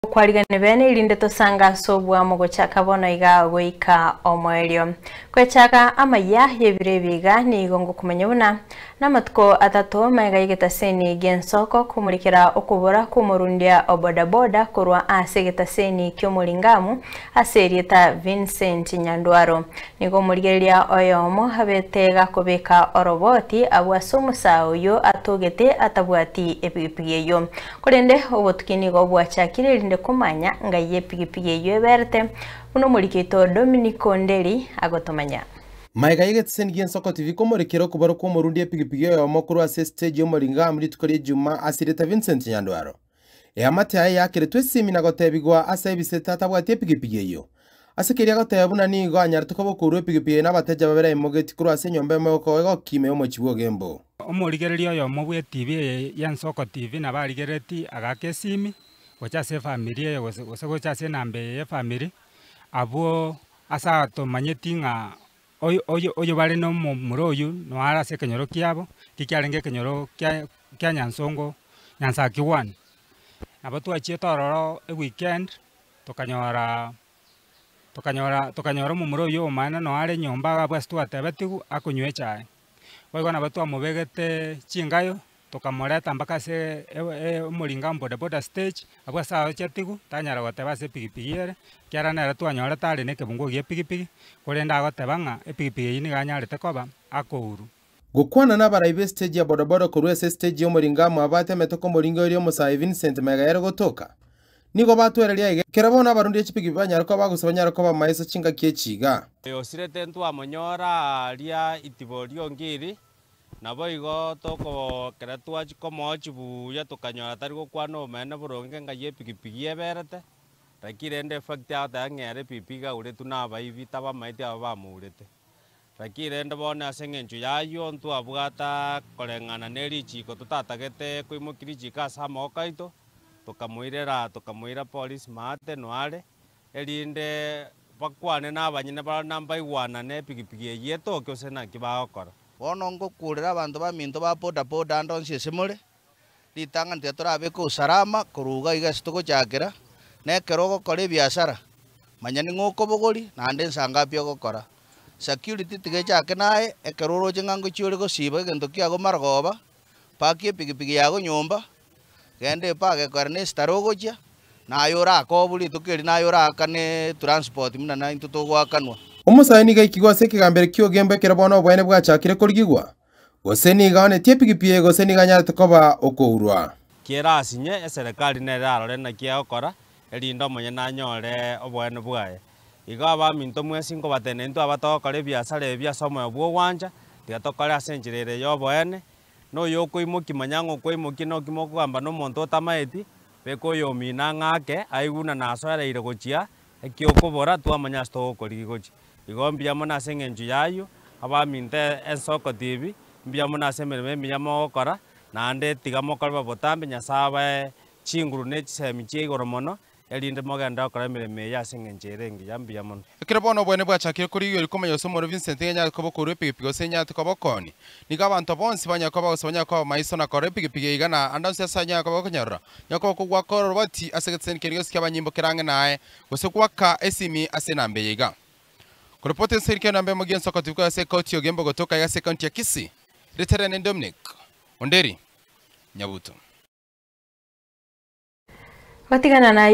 Okwarigeria bene erinde tosange ase obwamo gochaka bono iga goika omoerio. Kwechaka amayia y'ebiro ebi iga nigo ngokomenya buna namatuko atato maiga y'egetaseni gi'ensoko komorikera okobora kw'omorundia o bodaboda korwa ase egetaseni ki'omoringamu ase erieta Vincent Nyandwaro. Nigo omorigereria oyomo abete iga kobeka oroboti abwo ase omosaa oyio atogete atabwati epigipigi eyio. Korende obotuki nigo bwachakire erinde komanya ngai y'epigipigi eyio eberete, buna omorikito Dominic Onderi agotomanya. Maega y'egeteseni gi'Ensoko TV komorekera okobarwa kw'omorundi epigipigi oyomo korwa ase esiteji y'Omoringamu rituko ri'Ejumaa ase rieta Vincent Nyandwaro. Eamate yaye yakeretwe esimi na gotebigwa ase ebise tatabwati epigipigi eyio. Ase keria agoteeba buna nigo anyarete koba okourwa epigipigi eye nabatecha babere aimogeti korwa ase enyomba emo egokoa egokima y'omochie bw'ogembo. Omorigereria oyomo bw'etibi eye y'Ensoko TV nabarigereti agaaka esimi gocha ase efamiri eye gose gocha ase enamba eye y'efamiri abwo ase atomanyeti ng'a oyo bare nomomura oywo noyo are ase ekenyoro kiabo ekio kiarenge ekenyoro kia Nyansongo Nyansaki one. Nabo twachete ororo eweekend Tokanyora, tokanyora, tokanyora omomura oyio omonyene noyo are nyomba iga abwo ase twatebetigwe akonywa echae. Boigo nabo twamobegete chingayo, tokamoreta mpaka ase e- e- omoringa bodaboda stage, abwo ase ago achetigwe, tanyara goteba ase epigipigi ere, ekiagera nere twanyorete are nekebungo gie pigipigi, korende agoteba ng'a epigipigi eyio nigo anyarete koba akourwa. Gokwana nabarai be stage ya bodaboda korwa ase stage ya omoringo amo abate emetoka omoringo eria omosae Vincent mega yare gotoka. Nigo batwereria aiga ekero bono abarundi a chipikipiki banyare koba gose banyare koba maiso chingaki echi iga. Oyosirete ntwamonyora aaria itibo riongiri, naboigo tokobokera twachia komoa chibuya tokanyora tari gokwana obomenene boronge ng'a ye epikipiki eberete, rakiri rende efakiti agoteba ng'a ere epipi igaguretwe nabaibi tabamaeti aba bamourete. Naki rende bono ase engencho y'ayio ntwabwata koreng'ana ne richiiko totatagete koimokia richiiko ase amaboko aito, tokamoirera, tokamoira Polis Maate Noare, erinde bakwane n'abanyene baroro na mbaigwanane epigipigi eyio etoke gose naki bagokora. Bono ngokuurera abanto baminto ba bodaboda ande onsi ase more, Ritang'ani tiatorabeka usalama, korwa iga iga ase togochakera, na ekero ogokora ebiasara, manya ning'o okobogori, naende ensa ngapi ogokora. Security tiga echake naye, ekero oroche ng'a ngochia ore gosiba egento kiago marogoba, pakia epigipigi yago nyomba, genda epage ekogera ne esitara ogochia, naye orakobu rituko erio naye oraakane etranspoti buna naintwe togoakanwa. Omosae nigo aikigwe ase ekegambero ki'ogembo ekero bono oboene bwachakire korigigwa, gose nigo aonetie epigipi, gose nigo anyarete koba okourwa. Kera aase inye eserekari nere arore naki egokora, erinde omonyene anyore oboene bwaye. Igo abaminto mwensi nkobatebia naintwe abatogokora ebiasara ebi ase omoyo bw'ogwancha, tiga tokore ase enchera ere y'oboene. Noyokoimokia manya ng'a okwaimokia noki mokogamba nomonto otamaeti, beka oyomino ang'ake, aigu na nasoereire gochia Eki'okobora, Twamanya ase togokorigia gochi. Igo mbuya mono ase eng'encho y'ayio, abaminto ensoko tibi mbuya mono ase emeremo emiya mogokora, naende tiga mokore botambe Nyasae abae chinguru ne chisemi chia igoro mono, erinde mogende gokora emeremo eye ase eng'encho ere engiya mbuya mono. Ekero bono obonene bwachakire korigereria komanya gose omorwoti Vincent nigo enyarete koba okourwa epigipigi gose enyarete koba okoonia. Nigo abanto bonsi banyare koba gose banyare koba maiso na korora epigipigi eiga na ande onsi ase ayio nyare koba gokonyarora. Nyoko okogwa koroboti ase egeseseni keria gionsi ki'abanyimbo kera ang'e naye, gose goaka esimi ase enamba eye iga, Korepoti ense kera enamba emo gionsi okotibu koya ase Ekoti y'Ogeimba Ogotoka iga ase Ekaunti ya Kisii. Rieta riane ni Dominic Onderi Nyabuto. Gotigana na ayio,